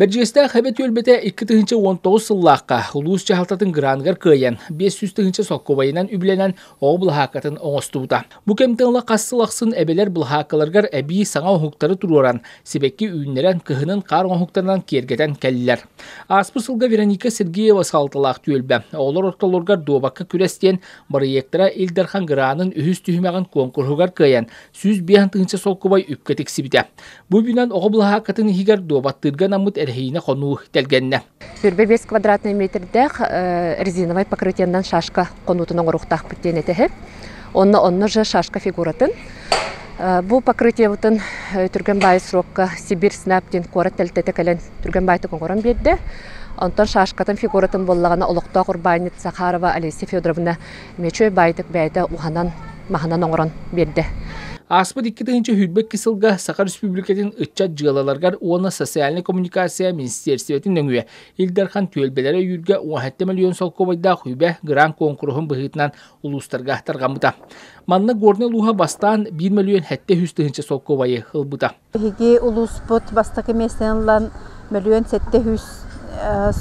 Бэрдьиэстээх эбэ түөлбэтэ икки тыһыынча уон тоҕус сыллаахха улуус дьаһалтатын граныгар кыайан, биэс сүүс тыһыынча солкуобайынан үбүлэнэн оҕо былаһааккатын оҥостубута. Бу кэмтэн ыла хас сыл ахсын эбэлэр былаһааккаларыгар эбии саҥа оҥоһуктары туруоран, сибэкки үүннэрэн, кыһынын хаар оҥоһуктарынан киэргэтэн кэллилэр. Ааспыт сылга Вероника Сергеева салалталаах түөлбэ оҕолор ортолоругар дуобакка күрэс диэн бырайыактара Ил Дархан гранын үһүс түһүмэҕин куонкуруһугар кыайан, сүүс биэһ тыынса солкубай үккэ тиксибитэ. Бу үбүнэн оҕо былаһааккатын иһигэр дуобаттыырга наммыт эрэһиинэ хонуу тэлгэннэ. Сөрбө биэс квадратный метрдээх резиновай покрытиеннан шашка хонуутун оҥоруохтаахпыт диэн этэһэр. Онно онно же шашка фигуратын. Бу покрытиебытын түргэн баай срокка Сибирь снап диэн куорат тэлтэтэ кэлэн түргэн баайтык оҥорон биэрдэ. Онтон шашкатын фигуратын боллагана олохтоох урбаанньыт Сахарова Олеся Федоровна Мечой байтык бэйэтэ уһанан, маһынан оҥорон биэрдэ. Ааспыт икки тыһыынча сүүрбэ икки сылга Саха Республикатын ыччат дьыалаларыгар уонна социальнай коммуникация министиэрстибэтин нөҥүө Ил Дархан түөлбэлэрэ өйүүргэ уон сэттэ миллион солкуобайдаах үбэ грант куонкуруһун быһыытынан улуустарга тарҕаммыта. Манна Горнай улууһа бастаан 1 миллион сэттэ сүүс тыһыынча солкуобайы ылбыта. Биһиги улууспут бастакы миэстэни ылан мөлүөн сэттэ сүүс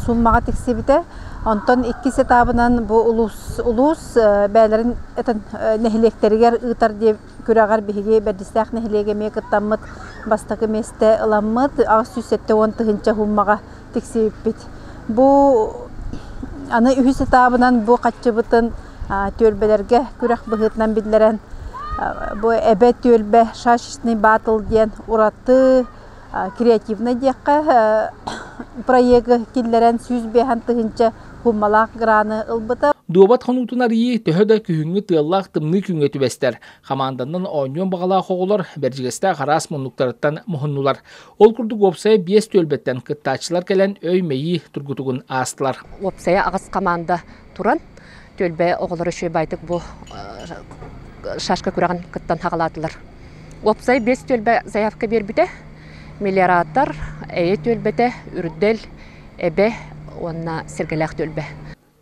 суумаҕа тиксибитэ. Онтон иккис этабынан бу улуус, улуус бэйэлэрин этэн, нэһилиэктэригэр ыытар диэн күрэҕэр биһиги Бэрдистээх нэһилиэгэ эмиэ кыттаммыт бастакы миэстэ ыламмыт. Аҕыс сүүс сэттэ уон тыһыынча суумаҕа тиксибиппит. Бу аны үһүс этабынан бу хаччыбытын түөлбэлэргэ күрэх быһыытынан биллэрэн бу Эбэ түөлбэ шашечный батл диэн ураты креативнай диэххэ проегы киллэрэн сүүс биэһэн тыһыынча хууммалаах граны ылбыта. Дуобат хонуутун арыйыы төһө да күһүҥҥү тыаллаах тымныы күҥҥэ түбэстэр. Хамаанданан оонньуон баҕалаах оҕолор Бэрдьигэстээх араас муннуктарыттан муһуннулар. Ол курдук уопсайа биэс түөлбэттэн кыттааччылар кэлэн өй-мэйии тургутугун аастылар. Уопсайа аҕыс команда туран түөлбэ оҕолоро үчүгэй байтык бу шашка күрэҕин кыттан хаҕалаатылар. Уопсай биэс түөлбэ заявка биэрбитэ. Миллиараттар, эйэ түөлбэтэ, үрдэл, эбэ уонна сэргэлээх түөлбэ.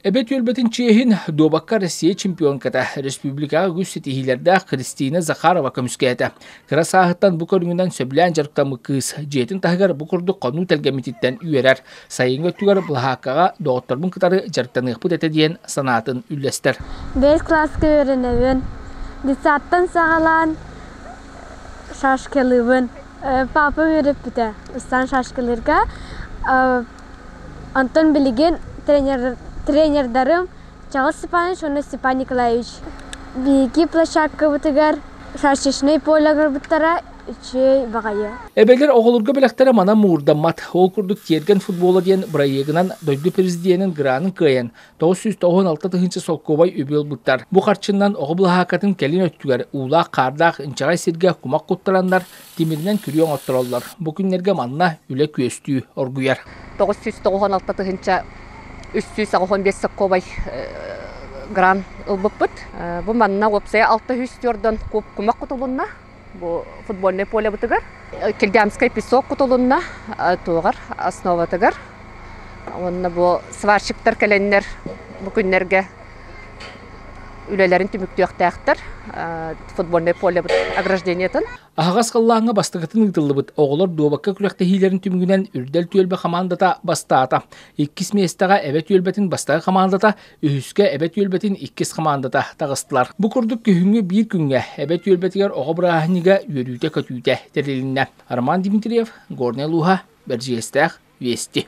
Эбэ түөлбэтин чиэһин дуобакка Россия чемпионката республикаҕа үгүс ситиһиилэрдээх Кристина Захарова көмүскээтэ. Кыра сааһыттан бу көрүҥүнэн сөбүлээн дьарыктаммыт кыыс дьиэтин таһыгар бу курдук хонуу тэлгэммититтэн үөрэр. Сайыҥҥы өттүгэр былаһааккаҕа доҕотторбун кытары дьарыктаныахпыт этэ диэн санаатын үллэстэр. Бэл кылааска үөрэнэбин. Детсадтан саҕалаан шашкалыыбын. Папа үөрэппитэ. Ыстаан шашкалыырга Онтон билигин тренердарым Чаҕыл Степанович уонна Степан Николаевич биһиги площадкабытыгар шашечнай поле агырбыттара үчүгэй баҕайы. Эбэлэр оҕолорго бэлэхтэрэ манан муурдаммат. Ол курдук Тиэргэн футбола диэн бырайыагынан дойду президенин гранын кыайан, 996 тыһыынча солкуобай үбү ылбыттар. Бу харчынан оҕо былаһааккатын кэлин өттүгэр уулаах-хаардаах инчэҕэй сиргэ кумах куттараннар, Тимиринэн күрүө оҥоттороллор. Бу күннэргэ манна үлэ күөстүү оргуйар. тоҕус сүүс тоҕуһун алта тыһыынча үс сүүс аҕыһон биэс солкуобай грант ылбыппыт. Бу манна уопсайа алта үс түөрдөн кумах кутулунна бу футбольнай полебытыгар. Киргиамскай песок кутулунна туоҕар основатыгар. Уонна бу сварщиктар кэлэннэр бу күннэргэ үлэлэрин түмүктүөхтээхтэр футбольнай полебыт ограждениетын. Аһаҕас кыллааҥҥа бастакытын ыытыллыбыт оҕолор дуобакка күрэхтэһиилэрин түмүгүнэн Үрдэл түөлбэ хамаандата бастаата. Иккис миэстэҕэ эбэ түөлбэтин бастакы хамаандата, үһүскэ эбэ түөлбэтин иккис хамаандата таҕыстылар. Бу курдук күһүҥҥү биир күҥҥэ эбэ түөлбэтигэр оҕо бырааһынньыга үөрүүтэ-көтүүтэ тэрилиннэ. Роман Дмитриев, Горнай Луһа, Бэрдьиэстээх, Вести.